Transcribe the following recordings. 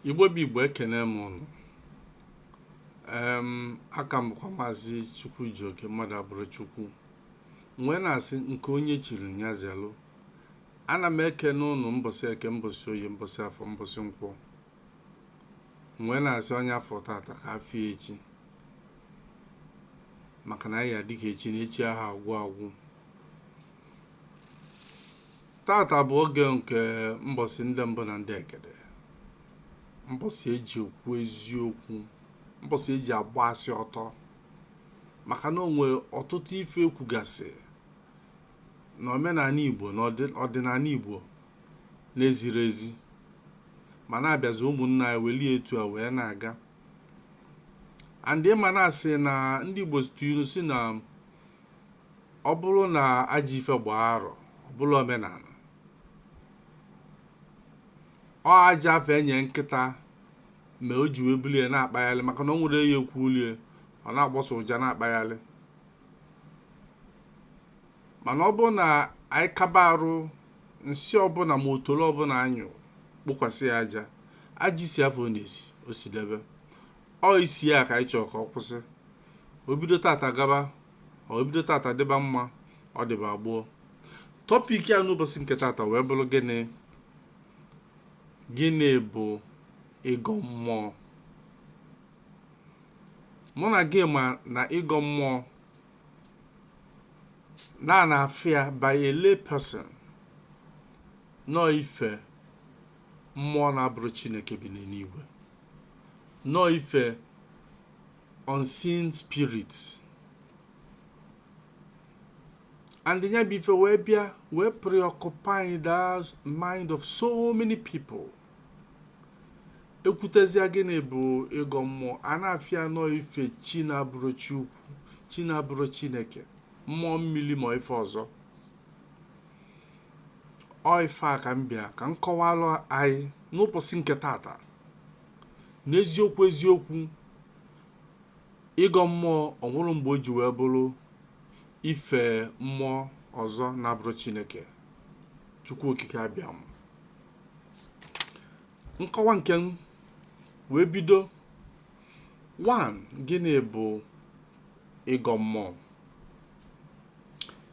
igbo bụ igbo ekene m ụnụ em aka m bụkwa maazị chukwu ji oke mmadụ abụrọ chukwu m wee na-asị nke onye chiri nya zelụ ana m ekene ụnụ mbọsị eke mbọsị oye mbọsị afọ mbọsị nkwọ m wee na-asị onye a fụ tata ka a fụ echi maka na anyị ga-adị ka echi na echi anaghị agwụ agwụ Tata bụ oge nke mbọsị ndị mbụ na ndị egede mbọsị eji ekwu eziokwu mbọsị eji agba asị ọtọ maka na o nwe ọtụtụ ife ekwugasị na omenala igbo na ọdịnala igbo na-ezirọ ezi mana a bịazie ụmụnna anyị welie etu a wee na-aga and ị ma na a sị na ndị igbo tụ inu sị na ọ bụrụ na ajọ ife gbaa arọ ọ bụrụ omenala ọ aja afụ e nye nkịta mee o ji wee buli ya na-akpagharị maka na o nwerọ ike kwulie ọ na-agbọsa ụja na-akpagharị mana ọ bụrụ na anyị kaba arụ nsị ọbụla ma otoro ọbụla a nyụ kpokwasị ya aja isi afụ ọ na-esi o sidebe ọ isi ya ka anyị chọrọ ka ọ kwụsị o bido tata gaba o bido tata dịba mma ọ dịba gboo topic anyị n'ụbọsị nke tata wee bụrụ gịnị gịnị bụ ịgọ mmụọ mụ na gị ma na ịgọ mmụọ na a na-afụ ya by a lay person na ọ ife mmụọ na-abụrọ chineke bi n'eluigwe na ọ ife unseen spirits and nya bụ ife wee bịa wee preoccupy the mind of so many people e kwutezia gịnị bụ ịgọ mmụọ a na-afụ ya na ọ ife chi na-abụrọ chi ukwu chi na-abụrọ chineke mmụọ mmili ma ife ọzọ ọ ife a ka m bịa ka m kọwalụ anyị n'ụbọsị nke tata n'eziokwu eziokwu ịgọ mmụọ o nwerọ mgbe o ji wee bụrụ ife mmụọ ọzọ na-abụrọ chineke chukwu okike abịama nkọwa nke m wee bido 1 gịnị bụ ịgọ mmụọ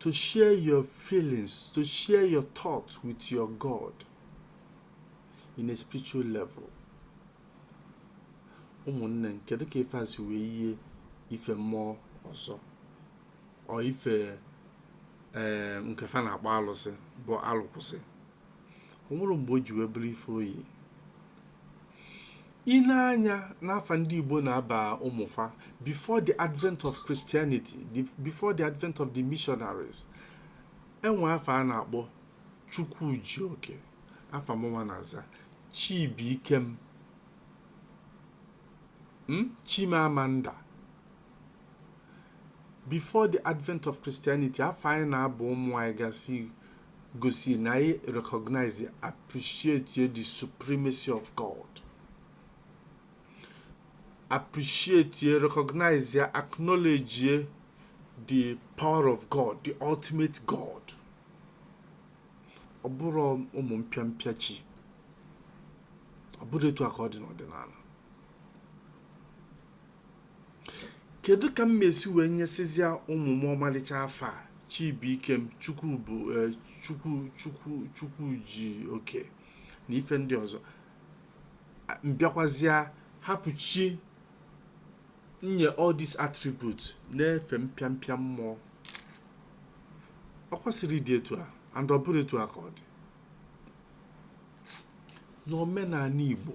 to share your feelings, to share your thoughts with your God in a spiritual level. ụmụnne m kedu ka ife a si wee yie ife mmụọ ọzọ ọ ife ee eh, nke fa na-akpọ alụsị bụ alụkwụsị o nwerọ mgbe o ji wee bụrụ ife o yi I nee anya n'afa ndị Igbo na-aba ụmụ fa before the advent of Christianity, the, before the advent of the missionaries, enwe afa a na-akpọ Chukwujioke, afa mụnwa na-aza Chibuikem, hmm? Chimamanda before the advent of Christianity afa anyị na-aba ụmụ anyị gasị gosi na anyị recognize appreciate the supremacy of God appreciate ye recognize ye acknowledge ye the power of God the ultimate God ọ bụrọ ụmụ mpịa mpịa chi ọ bụrọ etu a ka ọ dị n'ọdịnala Kedụ ka m ma-esi wee nyesịzịa ụmụ m ọmalịcha afa a Chibuikem Chukwu bụ eh, Chukwu Chukwu Chukwujioke na ife ndị ọzọ A- m bịakwazịa hapụ chi nye all these attributes na-efe mpịa mpịa mmụọ o kwesirọ ịdị etu a and ọ bụrọ etu a ka ọ dị n'omenala Igbo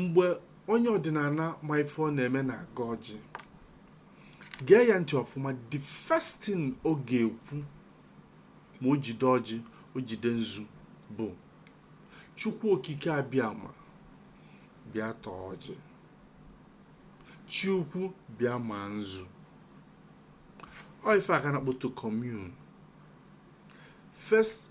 mgbe onye ọdịnala ma ife ọ na-eme na-agọ ọjị gee ya ntị ọfụma the first thing ọ ga-ekwu ma o jide ọjị o jide nzu bụ chukwu okike abịama bịa taa ọjị chi ukwu bịa ma nzu ọ ife a ka a na-akpọ to commune first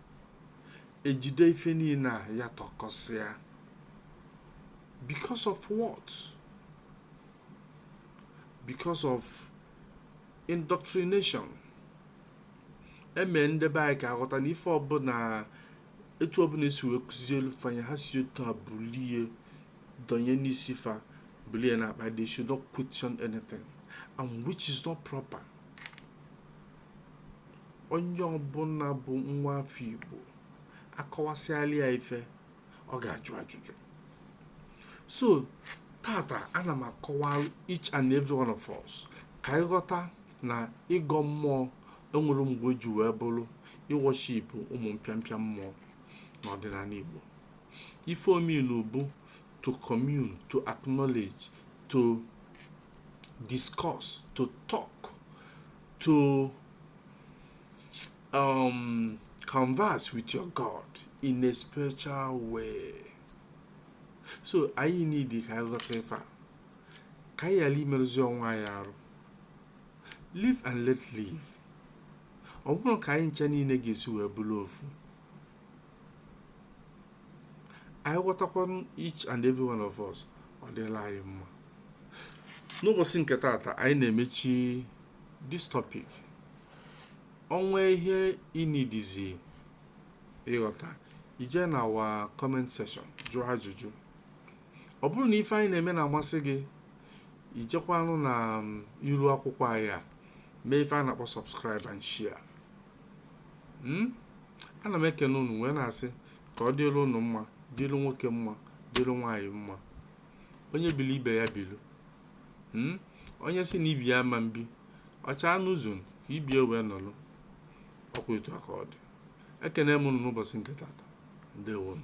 ejide ife niile a yatọkọsịa because of what because of indoctrination emee ndị be anyị ka ha ghọta na ife ọbụla etu ọbụla esi wee kụzielu fa nya ha si otu a bulie donye n'isi fa bulie na-akpa they should not question anything and which is not proper onye ọbụla bụ nwa afọ igbo akọwasịalị ya ife ọ ga-ajụ ajụjụ so tata ana m akọwara each and every one of us ka anyị ghọta na ịgọ mmụọ enwerọ mgbe o ji wee bụrụ ịworship ụmụ mpịampịa mmụọ n'ọdịnala igbo ife o mean bụ to commune to acknowledge to discuss to talk to um, converse with your God in a spiritual way. So anyị need ka anyị ghọta ife a ka anyị ghara imerụzi onwe anyị arụ live and let live ọ bụrụ ka anyị ncha niile ga-esi wee bụrụ ofu anyị ghọtakwa each and every one of us ọ dịlị anyị mma n'ụbọsị nke tata anyị na-emechi this topic o nwee ihe ị needzi ịghọta i jee na our comment section jụọ ajụjụ ọ bụrụ na ife anyị na-eme na-amasị gị i jekwanụ na iru akwụkwọ anyị a mee ife a na-akpọ subscribe and share Hmm? ana m ekene unu wee na-asị ka ọ dịlụ unu mma dịlụ nwoke mma dịlụ nwaanyị mma onye bilu ibe ya bilu Hmm? onye sị na ibe ya ama ebi ọ chaa n'ụzọ ka ibe ya wee nọlụ ọ kwa etu a ka ọ dị ekene m unu n'ụbọsị nke tata ndewonu